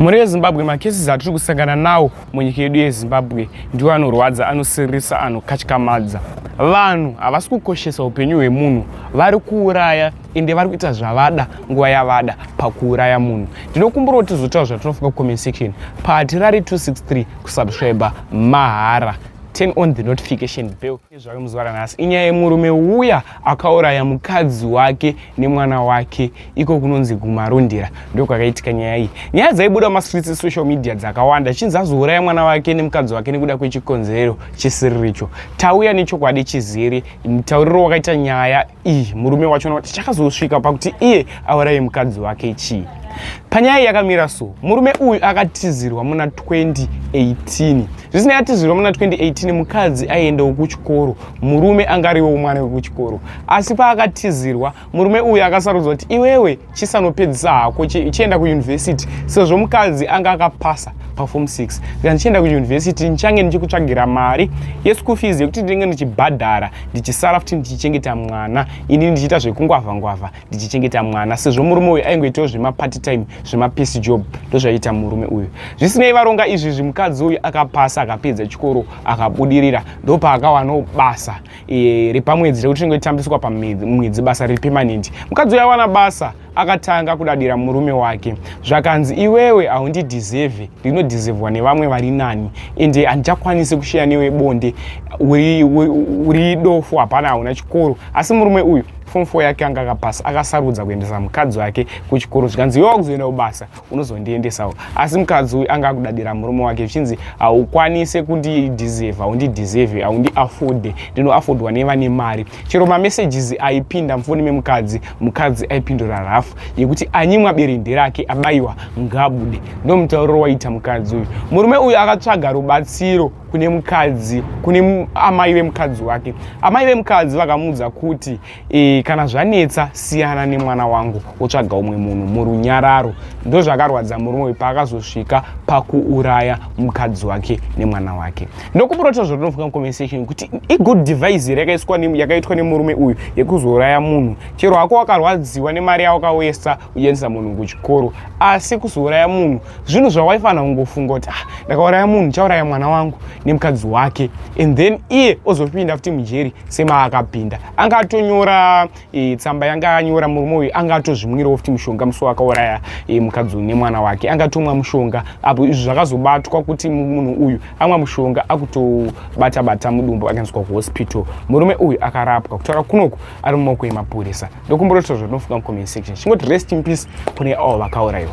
mhuri yezimbabwe makesis atiri kusangana nawo munyika yedu yezimbabwe ndiwo anorwadza anosiririsa anokatyamadza vanhu havasi kukoshesa upenyu hwemunhu vari kuuraya ende vari kuita zvavada nguva yavada pakuuraya munhu ndinokumbira kuti tizotaura zvatinofunga kucomment section patirari 263 kusubscribe mahara turn on the notification bell Zvake muzuva ranhasi inyaya yemurume uya akauraya mukadzi wake nemwana wake iko kunonzi kumarondera ndokwakaitika nyaya iyi nyaya dzaibuda mumastreets esocial media dzakawanda chinzi azouraya mwana wake nemukadzi wake nekuda kwechikonzero chisiriricho tauya nechokwadi chizere mutauriro wakaita nyaya iyi murume wacho noti chakazosvika pakuti iye auraye mukadzi wake chii panyaya yakamira so murume uyu akatizirwa muna 2018 zvisinei atizirwa muna 2018 mukadzi aiendawo kuchikoro murume anga ariwo mwana wekuchikoro asi paakatizirwa murume uyu akasarudzwa kuti iwewe chisanopedzisa hako chienda kuyunivhesiti sezvo mukadzi anga akapasa pafom 6 saka ndichienda kuyunivhesiti ndichange ndichikutsvagira mari yeschool fees yekuti ndinenge ndichibhadhara ndichisara futi ndichichengeta mwana ini ndichiita zvekungwavha ngwavha ndichichengeta mwana sezvo murume uyu aingoitawo zvemaparty time zvemapiece job ndozvaiita murume uyu zvisinei varonga izvi zvimukadzi uyu akapasa akapedza chikoro akabudirira ndopaakawanawo basa e, repamwedzi rekuti tinenge titambiswa pamwedzi basa riri pemanent mukadzi uya wana basa akatanga kudadira murume wake zvakanzi iwewe haundidhizevhe ndinodhizevhwa nevamwe vari nani ende handichakwanisi kusheya newe bonde uri dofo hapana hauna chikoro asi murume uyu fom fo yake anga akapasa akasarudza kuendesa mukadzi wake kuchikoro zvikanzi iwe wakuzoenda kubasa unozondiendesawo asi mukadzi uyu anga akudadira murume wake zvichinzi haukwanise kundidhiserve haundidhiserve haundiafode ndinoafodwa nevane mari chero mamessages aipinda mufoni memukadzi mukadzi aipindura rafu yekuti anyimwa berende rake abayiwa ngabude ndomutauriro waita mukadzi uyu murume uyu akatsvaga rubatsiro kune mukadzi kune amai vemukadzi wake amai vemukadzi vakamuudza kuti E, kana zvanetsa siyana nemwana wangu wotsvaga umwe munhu murunyararo ndozvakarwadza murume uyu paakazosvika pakuuraya mukadzi wake nemwana wake ndokuburota zvotonofunga conversation kuti igood device here yakaitwa nemurume uyu yekuzouraya munhu chero hako wakarwadziwa nemari yawakawesa kuendesa munhu kuchikoro asi kuzouraya munhu zvinhu zvawaifanira kungofunga kuti ah, ndakauraya munhu chauraya mwana wangu nemukadzi wake and then iye ozopinda futi mujeri semaakapinda anga atonyora e, tsamba yanga anyora murume uyu anga atozvimwirawo futi mushonga musi wakauraya e, mukadzi uyu nemwana wake anga atomwa mushonga apo izvi zvakazobatwa kuti munhu uyu amwa mushonga akutobata bata mudumbu akanzwa kuhospital murume uyu akarapwa kutaura kunoku ari mumaoko emapurisa ndokumborotozvo ndinofunga mucomment section chingoti rest in peace kune avo vakaurayiwa